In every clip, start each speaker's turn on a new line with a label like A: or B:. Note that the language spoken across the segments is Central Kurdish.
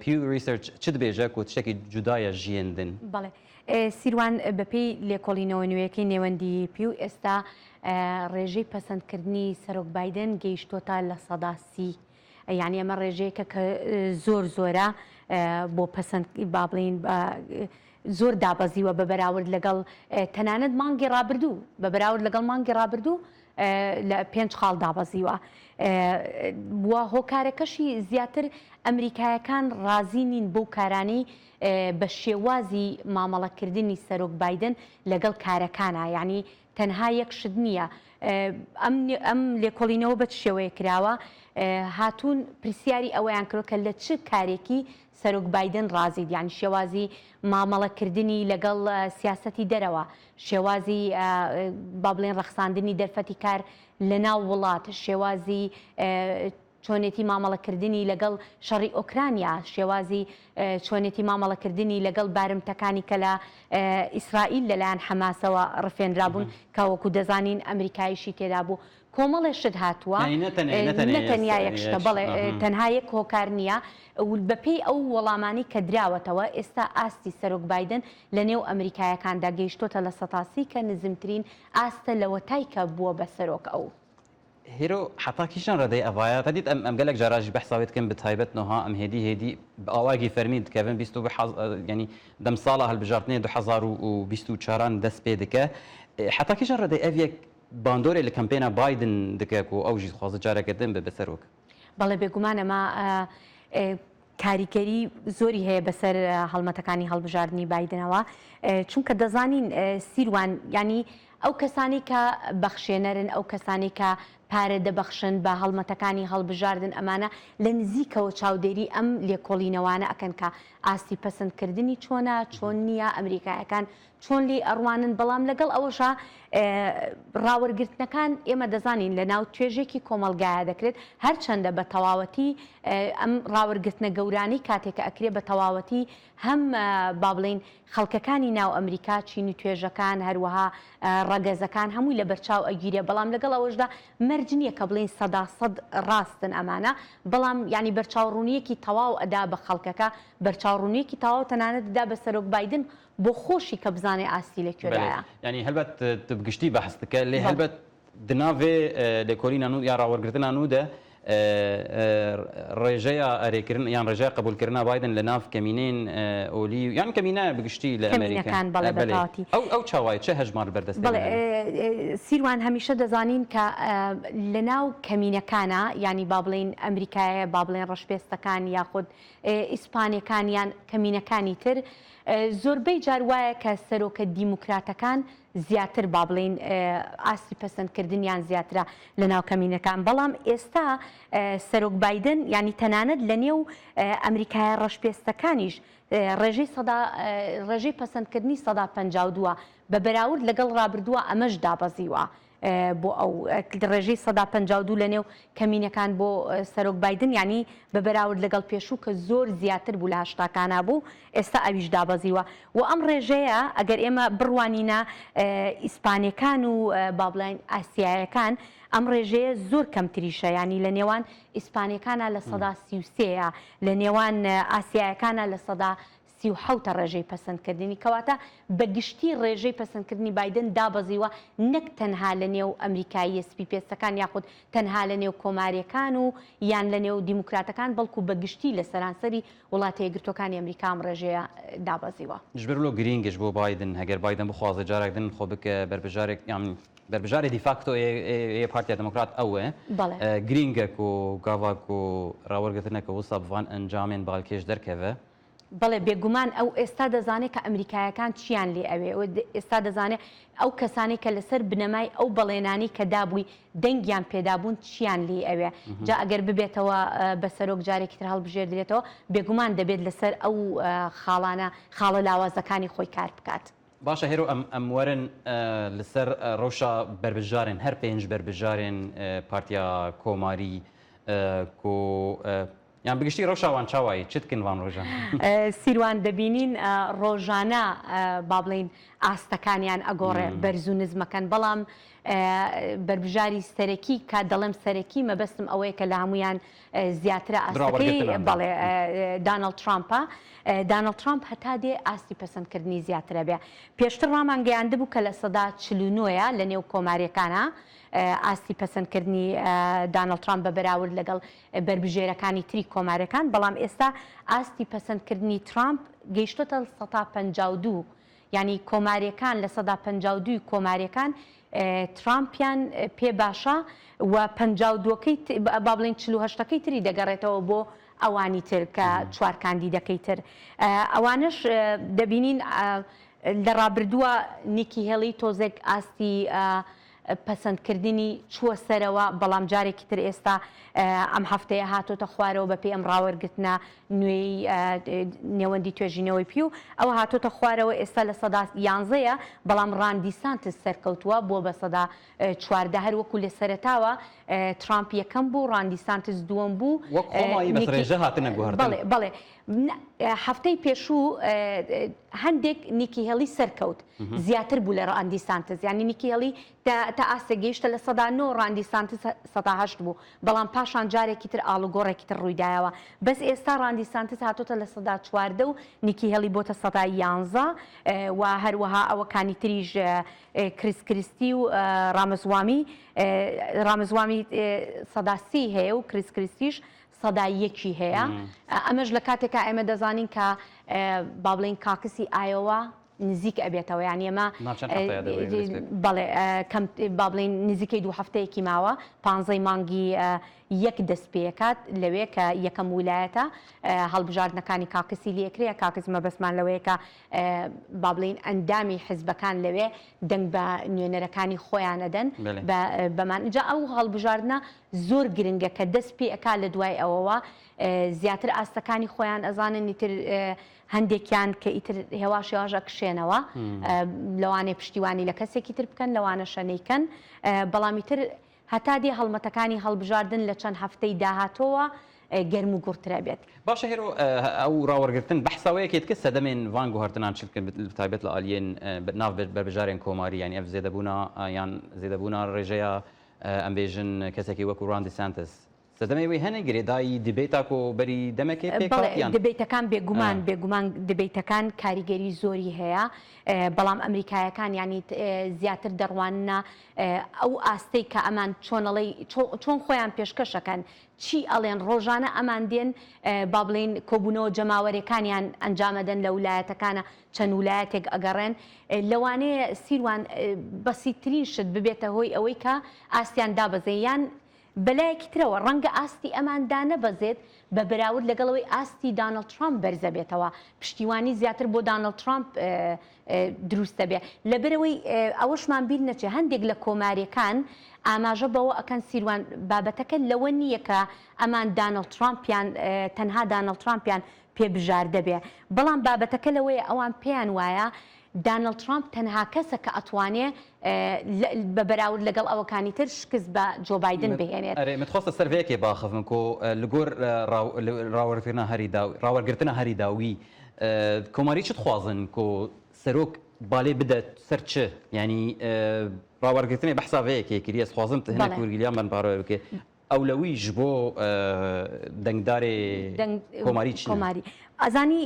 A: Pew Research چ دبێژە کۆتشتەکی جودایە ژیێندن؟ بەڵێ. سیروان
B: بەپێی لێکۆڵینەوە نوێیەکەی نێوەندیی پیو، ئێستا ڕێژەی پەسەندکردنی سەرۆک بایدن گەیشتووەتە لە سەدا سی. یانی ئەمە ڕێژەیەکە کە زۆر زۆرە بۆ پەسەند با بڵێین زۆر دابەزیوە بە بەراورد لەگەڵ تەنانەت مانگی ڕابردوو بە بەراورد لەگەڵ مانگی ڕابردوو لە پێنج خاڵ دابەزیوە و هۆکارەکەشی زیاتر ئەمریکایەکان ڕازی نین بەو کارانەی بە شێوازی مامەڵەکردنی سەرۆک بایدن لەگەڵ کارەکانە یعنی تەنها یەک شت نییە ئەم لێکۆڵینەوە بە چ شێوەیە کراوە هاتوون پرسیاری ئەوەیان کرۆ کە لە چ کارێکی سەرۆک بایدن ڕازیت یانی شێوازی مامەڵە کردنی لەگەڵ سیاسەتی دەرەوە، شێوازی با بڵێین ڕەخساندنی دەرفەتی کار لەناو وڵات، شێوازی چۆنێتی مامەڵە کردنی لەگەڵ شەڕی ئۆکرانیا، شێوازی چۆنێتی مامەڵە کردنی لەگەڵ بارمتەکانی کە لە ئیسرائیل لەلایەن حەماسەوە ڕفێنرابوون کە وەکو دەزانین ئەمریکایشی تێدا بوو. کۆمەڵێ شت هاتووە نەتەنیا یەک شتە بەڵێ تەنها یەک هۆکار نییە و بەپێی ئەو وەڵامانەی کە دراوەتەوە ئێستا ئاستی سەرۆک بایدن لە نێو ئەمریکایەکاندا گەیشتۆتە لە سەتا سی کە نزمترین ئاستە لەوەتای کە بووە بە سەرۆک ئەو هیرۆ
A: حەتا کیشان ردەی ئەڤایا تدید ئەم ئەم گەلەک جاراژی بەحسا وێت کەم بتایبەت نوها ئەم هێدی هێدی ئاواگی فەرمید کەڤن بیست و حەز یەنی دەم ساڵە هەلبژاردنێ دو حەزار و بیست و چاران دەس پێ دکە حەتا کیشان ردەی ئەڤیەک باندۆرێ لە کەمپێنا بایدن دکە کو ئەو ژی دخوازە جارەکە دن ببە سەرۆک. بەڵێ بێگومان
B: ئەمە کاریکەری زۆری هەیە بەسەر هەڵمەتەکانی هەڵبژاردنی بایدنەوە چونکە دەزانین سیروان یانی ئەو کەسانی کە بەخشێنەرن ئەو کەسانی کە پارە دەبەخشن بە هەڵمەتەکانی هەڵبژاردن ئەمانە لە نزیکەوە چاودێری ئەم لێکۆڵینەوانە ئەکەن کە ئاستی پەسندکردنی چۆنە چۆن نییە ئەمریکایەکان چۆن لێی ئەڕوانن، بەڵام لەگەڵ ئەوەشا ڕاوەرگرتنەکان ئێمە دەزانین لە ناو توێژێکی کۆمەڵگایا دەکرێت، هەرچەندە بە تەواوەتی ئەم ڕاوەرگرتنە گەورانەی کاتێ کە ئەکرێ بە تەواوەتی هەم با بڵێین خەڵکەکانی ناو ئەمریکا چین و توێژەکان هەروەها ڕەگەزەکان هەمووی لە بەرچاو ئەگیرێ بەڵام لەگەڵ ئەوەشدا مەرج نییە کە بڵێین سەدا سەد ڕاستن ئەمانە بەڵام یانی بەرچاوڕوونیەکی تەواو ئەدا بە خەڵکەکە بەرچاوڕوونیەکی تەواو تەنانەت دا بە سەرۆک بایدن بۆ خۆشی کە بزانێ ئاستی لە کوێدایە. بەلێ یانی هەلبەت
A: تو بگشتی بەحس دکە لێ بەڵێ. هەلبەت دناڤێ لێکۆلینا نوو یا راوەرگرتنا نوو دە رێژەیا ئەرێکرن یان رێژەیا قەبولکرنا بایدن لە ناڤ کەمینەێن ئۆلی و یان کەمینایە بگشتی لە ئەمەریکا. کەمینەکان بەڵێ بە بەلێ تاواتی. ئەو ئەو چاوایە چە هەژمار بەر دەستێ بەڵێ بنەێ؟
B: سیروان هەمیشە دەزانین کە لە ناو کەمینەکانا یانی با بڵێین ئەمریکایە با بڵێن رەشپێستەکان یاخود ئیسپانەکان یان کەمینەکانی تر، زۆربەی جار وایە کە سەرۆکە دیموکراتەکان زیاتر با بڵێین ئاستی پەسەندکردنیان زیاترە لە ناو کەمینەکان، بەڵام ئێستا سەرۆک بایدن یانی تەنانەت لە نێو ئەمریکایە ڕەشپێستەکانیش ڕێژەی سەدا ڕێژەی پەسەندکردنی سەدا پەنجا و دوو بە بەراورد لەگەڵ ڕابردووە ئەمەش دابەزیوە. بۆ ئەو ڕێژەی سەدا پەنجا و دوو لەنێو کەمینەکان بۆ سەرۆک بایدن یانی بە بەراورد لەگەڵ پێشوو کە زۆر زیاتر بوو لە هەشتاکانا بوو ئێستا ئەویش دابەزیوە و ئەم ڕێژەیە ئەگەر ئێمە بڕوانینە ئیسپانەکان و بابلین ئاسیایەکان ئەم ڕێژەیە زۆر کەمتریشە ینی لە نێوان ئیسپانەکانە لە سەدا سیوسەیە لە نێوان ئاسیایەکانە لە سەدا سی و حەوت ە ڕێژەی پەسەندکردنی، کەواتە بە گشتی ڕێژەی پەسەندکردنی بایدن دابەزیوە نەک تەنها لە نێو ئەمریکاییە سپی پێستەکان یاخود تەنها لە نێو کۆماریەکان و یان لە نێو دیموکراتەکان بەڵکو بە گشتی لە سەرانسەری وڵاتە یەکگرتوەکانی ئەمریکا ئەم ڕێژەیە دابەزیوە. جبر لۆ گرینگش
A: بۆ بایدن هەگەر بایدن بخوازێ جارەک دن خۆ بکە بەربژارێک یان بەربژارێ دیفاکتۆ ی ی پارتیا دمۆکرات ئە وە بەڵێ. گرینگە کۆ گاڤاک و ڕاوەرگرتنە کە وسا بڤان ئەنجامێن بالکێش دەرکەڤە. بەڵێ
B: بێگومان ئەو ئێستا دەزانێت کە ئەمریکایەکان چییان لێ ئەوێ و ئێستا دەزانێت ئەو کەسانەی کە لەسەر بنەمای ئەو بەڵێنانەی کە دابووی دەنگیان پێدابوون چییان لێی ئەوێ جا ئەگەر ببێتەوە بە سەرۆک جارێکی تر هەڵبژێردرێتەوە بێگومان دەبێت لەسەر ئەو خاڵانە خاڵە لاوازەکانی خۆی کار بکات. باشە هێرۆ ئەم
A: ئەم وەرن لەسەر ڕەوشە بەربژارێن هەر پێنج بەربژارێن پارتیا کۆماری کۆ یان بگشتی رەوشا وان چا وایی چت کن وان رۆژان. سیروان
B: دەبینین ڕۆژانە با بڵێین ئاستەکانیان ئەگۆڕێ بەرز و نزمەکەن بەڵام بەربژاری سەرەکی کا دەڵێم سەرەکی مەبەستم ئەوەیە کە لە هەمویان زیاترە ئاستەکەی بەڵێ دانڵد ترامپە دانڵد ترامپ هەتا دێ ئاستی پەسەندکردنی زیاترە بێ پێشتر ڕامانگەیاند بوو کە لە سەدا چلونۆە لە نێو کۆماریەکانە ئاستی پەسەندکردنی دانڵد ترامپ بە بەراورد لەگەڵ بەربژێرەکانی تری کۆمارەکان، بەڵام ئێستا ئاستی پەسەندکردنی ترامپ گەیشتۆتە سەتا پەنجا و دوو، یانی کۆماریەکان لە سەدا پەنجا و دوو ی کۆماریەکان ترامپیان پێ باشە و پەنجا و دوو ەکەی با بڵێین چل و هەشت ەکەی تری دەگەڕێتەوە بۆ ئەوانی تر کە چوار کاندیدەکەی تر ئەوانەش دەبینین لە ڕابردووە نیکی هێڵی تۆزێک ئاستی پەسەندکردنی چووە سەرەوە، بەڵام جارێکی تر ئێستا ئەم هەفتەیە هاتۆتە خوارەوە بەپێی ئەم ڕاوەرگرتنە نوێی نێوەندی توێژینەوەی پیو ئەوە هاتۆتە خوارەوە ئێستا لە سەدا یانزە یە بەڵام ڕان دیسانتس سەرکەوتووە بووە بە سەدا چواردە هەر وەکو لە سەرەتاوە ترامپ یەکەم بوو ڕان دیسانتس دووەم بوو وەک خۆمانی بەس ڕێژە هاتنە گۆڕدن. بەڵێ بەڵێ هەفتەی پێشوو هەندێک نیکی هێڵی سەرکەوت زیاتر بوو لە ڕاندی سانتز یانی نیکی هێڵی تا ئاستە گەیشتە لە سەدا نۆ ڕاندی سانتز سەداهشت بوو بەڵام پاشان جارێکی تر ئاڵوگۆڕێکی تر ڕوویدایەوە بەس ئێستا ڕاندی سانتز هاتۆتە لە سەدا چواردە و نیکی هێڵی بۆتە سەدا یانزە و هەروەها ئەوەکانی تریژ کریس کریستی و ڕامزوامی ڕامزوامی سەداسی هەیە و کریس کریستیش سەدا یەکی هەیە ئەمەش لە کاتێکا ئێمە دەزانین کە با بڵێین کاکسی ئایۆوا نزیک ئەبێتەوە یان ئێمە بەڵێ با بڵێین نزیکەی دوو هەفتەیەکی ماوە پانزەی مانگی یەک دەست پێکات لەوێ کە یەکەم ویلایەتە هەڵبژاردنەکانی کاکسی لەکرەیە کاکس مەبەسمان لەوەیەکە با بڵین ئەندامی حزبەکان لەوێ دەنگ بە نوێنەرەکانی خۆیان ئەدەن بەمانجا ئەو هەڵبژاردنە زۆر گرنگە کە دەست پێ ئەکا لە دوای ئەوەوە زیاتر ئاستەکانی خۆیان ئەزانن ئیتر هەندێکیان کە ئیتر هێواش هێواش ئەکشێنەوە لەوانێ پشتیوانی لە کەسێکی تر بکەن لەوانەشە نەیکەن بەڵام ئیتر هەتا دێ هەڵمەتەکانی هەڵبژاردن لە چەند هەفتەی داهاتۆوە گەرم و گوڕترە بێت. باشە هێرۆ
A: ئەو ڕاوەرگرتن بەحساوەیە کێت کە سەدەمێن ڤان گوهەرتنان چ بکەن بە تایبەت لە ئالیێن ناڤ بەربژارێن کۆماری یانی ئەڤ زێدەبوونا یان زێدەبوونا ڕێژەیە ئەمبێژن کەسەکی وەکو ران دیسانتس سەردەمەی وەی هەنە گرێدای دیبەی تاکۆ بەری دەمەکێ پێ بەڵێ کاتیان دبەیتەکان
B: بێگومان بێگومان دبەیتەکان کاریگەری زۆری هەیە بەڵام ئەمریکایەکان یانی زیاتر دەڕواننە ئەو ئاستەی کە ئەمان چۆن ئەڵێی چۆن خۆیان پێشکەشەکەن چی ئەڵێن ڕۆژانە ئەمان دێن بابڵێین کۆبونەوە جەماوەرێکانیان ئەنجامەدەن لە ولایەتەکانە چەند ولایەتێک ئەگەڕێن لەوانەیە سیروان بەسیترین شت ببێتە هۆی ئەوەی کە ئاستیان دابەزێ یان بەلایەکی ترەوە ڕەنگە ئاستی ئەمان دانەبەزێت بە بەراورد لەگەڵ ئەوەی ئاستی دانڵد ترامپ بەرزەبێتەوە پشتیوانی زیاتر بۆ دانڵد ترامپ دروستە بێ لەبەرئەوەی ئەوەشمان بیر نەچێ هەندێک لە کۆماریەکان ئاماژە بەوە ئەکەن سیروان بابەتەکە لەوە نییە کە ئەمان دانڵد ترامپیان تەنها دانڵد ترامپیان پێ بژاردە بێ بەڵام بابەتەکە لەوەیە ئەوان پێیان وایە دانڵد ترامپ تەنها کەسە کە ئەتوانێ بە بەراورد لەگەڵ ئەوەکانی تر شکست بە جۆ بایدن بهێنێت. ئەرێ من خۆستە سەر ڤەیەکێ
A: باخەڤم کۆ لگۆر راوەرڤرنا هەری داوی راوەرگرتنە هەری داوی کۆماری چ دخوازن کو سەرۆک بالێ بدە سەر چ یانی ڕاوەر گرتنێ بەحسا ڤەیە کێ کری ئەس خوازم تهنێ کورگیلیان بەن پارۆێ بکێ ئەولەوی ژ بۆ دەنگدارێ کۆماری چ کۆماری ئەزانی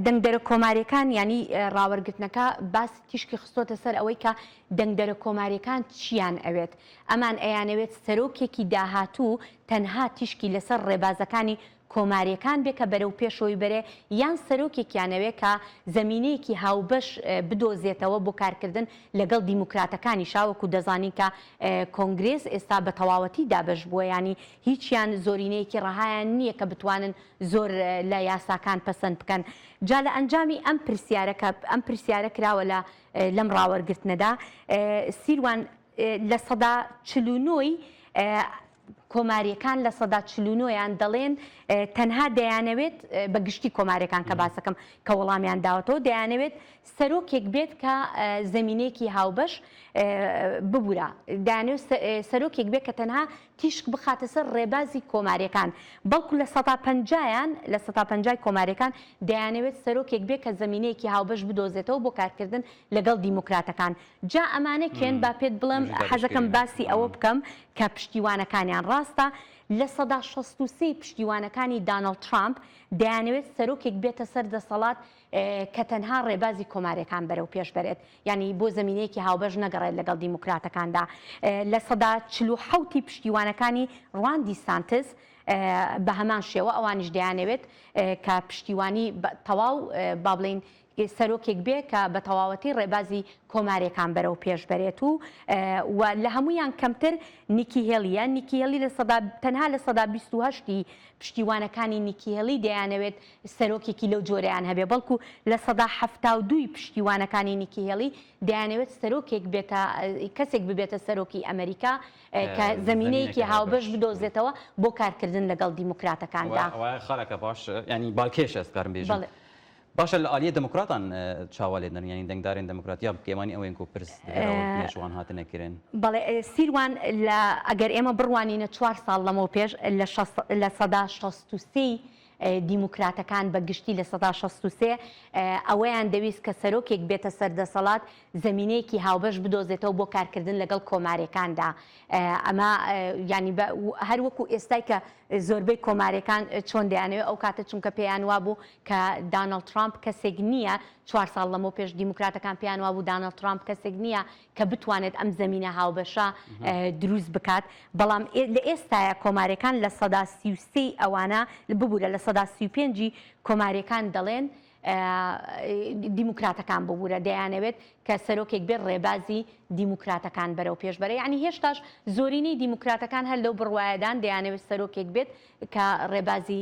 B: دەنگدەرە کۆماریەکان ینی ڕاوەرگرتنەکە باس تیشکی خستۆتە سەر ئەوەی کە دەنگدەرە کۆماریەکان چیان ئەوێت ئەمان ئەیانەوێت سەرۆکێکی داهاتوو تەنها تیشکی لەسەر ڕێبازەکانی کۆماریەکان بێ کە بەرەو پێشەوەی بەرێ یان سەرۆکێکیان ئەوێ کە زەمینەیەکی هاوبەش بدۆزێتەوە بۆ کارکردن لەگەڵ دیموکراتەکانیشا وەکو دەزانین کە کۆنگرێس ئێستا بە تەواوەتی دابەش بووە یانی هیچیان زۆرینەیەکی ڕەهایان نییە کە بتوانن زۆر لە یاساکان پەسەند بکەن جا لە ئەنجامی ئەم پرسیارە کە ئەم پرسیارە کراوە لە لەم ڕاوەرگرتنەدا سیروان لە سەدا چل و نۆی کۆماریەکان لە سەدا چل و نۆ یان دەڵێن تەنها دەیانەوێت بە گشتی کۆماریەکان کە باسەکەم کە وەڵامیان داوەتەوە دەیانەوێت سەرۆکێک بێت کە زەمینەیەکی هاوبەش ببورە دانێ سەرۆکێک بێت کە تەنها تیشک بخاتە سەر ڕێبازی کۆماریەکان بەڵکو لە سەدا پەنجایان لە سەدا پەنجای کۆماریەکان دەیانەوێت سەرۆکێک بێت کە زەمینەیەکی هاوبەش بدۆزێتەوە بۆ کارکردن لەگەڵ دیموکراتەکان جا ئەمانە کێن با پێت بڵێم حەزەکەم باسی ئەوە بکەم کە پشتیوانەکانیان ڕاستە لە سەدا شەست و سێ ی پشتیوانەکانی دانڵد ترامپ دەیانەوێت سەرۆکێک بێتە سەر دەسەڵات کە تەنها ڕێبازی کۆماریەکان بەرەو پێش بەرێت یانی بۆ زەمینەیەکی هاوبەش نەگەڕێت لەگەڵ دیموکراتەکاندا لە سەدا چل و حەوت ی پشتیوانەکانی ڕوان دیسانتس بە هەمان شێوە ئەوانیش دەیانەوێت کە پشتیوانی تەواو با بڵێین ی سەرۆکێک بێ کە بە تەواوەتی ڕێبازی کۆمارێکان بەرەو پێش بەرێت و و لە هەموویان کەمتر نیکی هێلیە، نیکی هێلی لە سەدا تەنها لە سەدا بیست و هەشت ی پشتیوانەکانی نیکی هێلی دەیانەوێت سەرۆکێکی لەو جۆرەیان هەبێ بەڵکو لە سەدا حەفتا و دوو ی پشتیوانەکانی نیکی هێلی دەیانەوێت سەرۆکێک بێتە کەسێک ببێتە سەرۆکی ئەمەریکا کە زەمینەیەکی هاوبەش بدۆزێتەوە بۆ کارکردن لەگەڵ دیموکراتەکاندا. ئەوە ئەوە خەرەکە باش
A: یانی بالکێشە ئەزکارم بێژم. بەڵێ. باشە لە ئالیە دموکراتان چاوا لێ دەنرێن یانی دەنگدارێن دموکرات یا پکێوانی ئەوێن کو پرس دهێراون پنێ شوان هاتنە کرێن؟ بەڵێ سیروان
B: لە ئەگەر ئێمە بڕوانینە چوار ساڵ لەمەو پێش لە شەست لە سەدا شەست و سێ ی دیموکراتەکان بە گشتی لە سەدا شەست و سێ ئەوەیان دەویست کە سەرۆکێک بێتە سەر دەسەڵات زەمینەیەکی هاوبەش بدۆزێتەوە بۆ کارکردن لەگەڵ کۆمارێکاندا ئەمە یانی بە هەر وەکو ئێستای کە زۆربەی کۆمارێکان چۆن دەیانەوێ ئەو کاتە چونکە پێیان وابوو کە دانڵد ترامپ کەسێک نییە، چوار ساڵ لەمەو پێش دیموکراتەکان پێیان وابوو دانڵد ترامپ کەسێک نییە کە بتوانێت ئەم زەمینە هاوبەشە دروست بکات، بەڵام لە ئێستایە کۆماریەکان لە سەدا سی و سێ ی ئەوانە، ببورە لە سەدا سی و پێنج ی کۆماریەکان دەڵێن دیموکراتەکان ببورە دەیانەوێت کە سەرۆکێک بێت ڕێبازی دیموکراتەکان بەرەو پێش بەرێت، یانی هێشتاش زۆرینەی دیموکراتەکان هەر لەو بڕوایەدان دەیانەوێت سەرۆکێک بێت کە ڕێبازی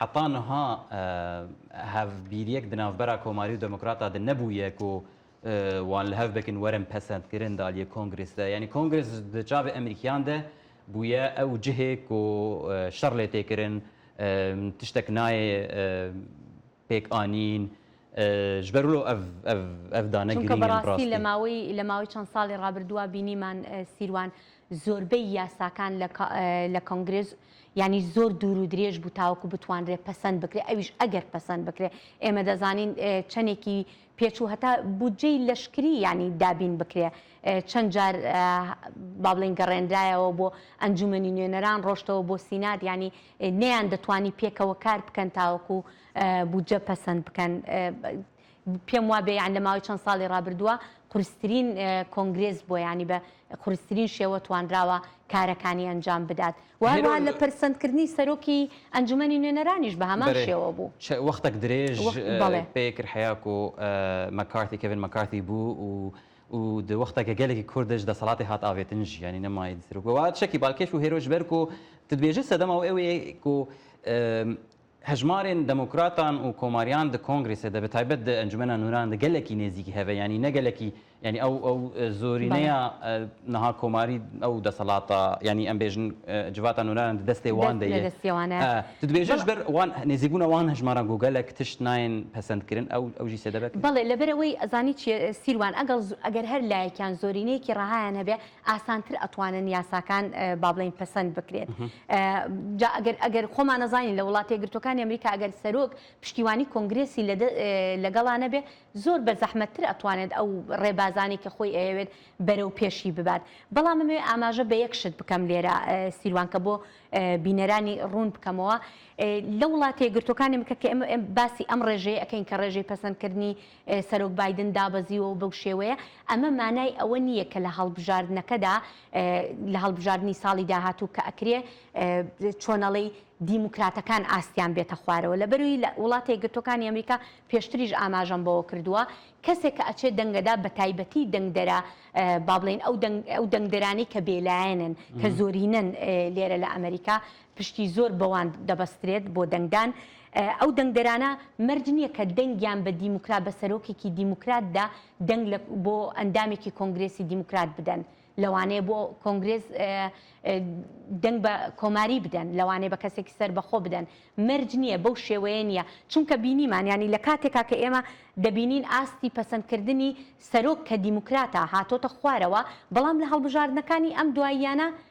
A: حەتا نها هەڤ بیریەک دە ناڤبەرا کۆماری و دموکراتا دە نەبویە ک وان لە هەڤ بکن وەرم پەسەند کرن دالیە کۆنگرس دە. یانی کۆنگرس دە چاڤ ئەمریکیان دە بویە ئەو جهێ ک شەڕ لێ تێ کرن تشتەک ناێ پێک ئانین ژبەر لۆ ئەڤ دانە چونکە گرینگن بەڕاستی لە ڕاستی.
B: ماوەی لە ماوەی چەند ساڵی ڕابردوا بینیمان سیروان زۆربەی یاساکان لە کۆنگرس یانی زۆر دوور و درێژ بوو تاوەکو بتوانرێ پەسەند بکرێ ئەویش ئەگەر پەسەند بکرێ ئێمە دەزانین چەنێکی پێچوو هەتا بودجەی لەشکری یانی دابین بکرێ چەند جار با بڵێن گەڕێنرایەوە بۆ ئەنجومەنی نوێنەران ڕۆشتەوە بۆ سینات ینی نەیان دەتوانی پێکەوە کار بکەن تاوەکو بودجە پەسەند بکەن پێم وابێ یان لە ماوەی چەند ساڵی ڕابردووە قورسترین کۆنگرێس بووە یانی بە قورسترین شێوە توانراوە کارەکانی ئەنجام بدات و هەروەها لە پەرسەندکردنی سەرۆکی ئەنجومەنی نوێنەرانیش بە هەمان شێوە بوو. چ وەختەک درێژ
A: پێ کرد حەیاکۆ مەکارتی کێڤن مەکارتی بوو و و دە وەختە کە گەلێکی کوردش دەسەڵاتی هات ئاڤێتن ژیانی نەمای سەرۆک و چەکی بالکێش و هێرۆش بەرکۆ تدبێژە سەدەما و ئێوەیەک و هەژمارێن دەموکراتان و کۆماریان دە کۆنگرێسێ دە بە تایبەت دە ئەنجومەنا نووران دە گەلەکی نێزیکی هەێ یانی نە گەلەکی یانی ئەو ئەو زۆرینەیا بەڵێ. نها کۆماری ئەو دەسەڵاتە یانی ئەمبێژن جڤاتا نوورانان دە دەستێ وان دەست دە لە یێ دەستێ وانە. ئە ددبێژەش بەڵ. بەر وان نێزیکبوونا وان هەژماران گۆ گەلەک تشت ناێن پەسەند کرن ئەو ئەو ژیسێ دە بەکرێ. بەڵێ لەبەر ئەوەی ئەزانی
B: چییە سیروان ئەگەڵ ئەگەر هەر لایەکیان زۆرینەیەکی ڕەهایان هەبێ ئاسانتر ئەتوانن یاساکان با بڵێین پەسەند بکرێت جا ئەگەر ئەگەر خۆمان نەزانین لە وڵاتە یەکگرتووەکانی ئەمریکا ئەگەر سەرۆک پشتیوانی کۆنگرێسی لەگەڵا نەبێ زۆر بە زەحمەتتر ئەتوانێت ئەو ڕێبازانەی کە خۆی ئەیەوێت بەرەو پێشی ببات بەڵام ئەمەوێ ئاماژە بە یەک شت بکەم لێرە سیروان کە بۆ بینەرانی ڕوون بکەمەوە لە وڵاتە یەکگرتووەکانی بکە کە ئێمە باسی ئەم ڕێژەیە ئەکەین کە ڕێژەی پەسەندکردنی سەرۆک بایدن دابەزیوە و بەو شێوەیە، ئەمە مانای ئەوە نییە کە لە هەڵبژاردنەکەدا، لە هەڵبژاردنی ساڵی داهاتوو کە ئەکرێ چۆنەڵی دیموکراتەکان ئاستیان بێتە خوارەوە. لەبەروی لە وڵاتە یەکگرتووەکانی ئەمریکا پێشتریش ئاماژەم بەوە کردووە، کەسێک کە ئەچێت دەنگەدا بەتایبەتی دەنگدەرە با بڵێین ئەو دەنگدەرانەی کە بێلایەنن، کە زۆرینەن لێرە لە ئەمریکا، پشتی زۆر بەوان دەبەسترێت بۆ دەنگدان، ئەو دەنگدەرانە مەرج نییە کە دەنگیان بە دیموکرات، بە سەرۆکێکی دیموکراتدا دەنگ لە بۆ ئەندامێکی کۆنگرێسی دیموکرات بدەن، لەوانەیە بۆ کۆنگرێس دەنگ بە کۆماری بدەن، لەوانەیە بە کەسێکی سەربەخۆ بدەن، مەرج نییە، بەو شێوەیە نییە، چونکە بینیمان یانی لە کاتێکا کە ئێمە دەبینین ئاستی پەسەندکردنی سەرۆک کە دیموکراتە هاتۆتە خوارەوە، بەڵام لە هەڵبژاردنەکانی ئەم دواییانە،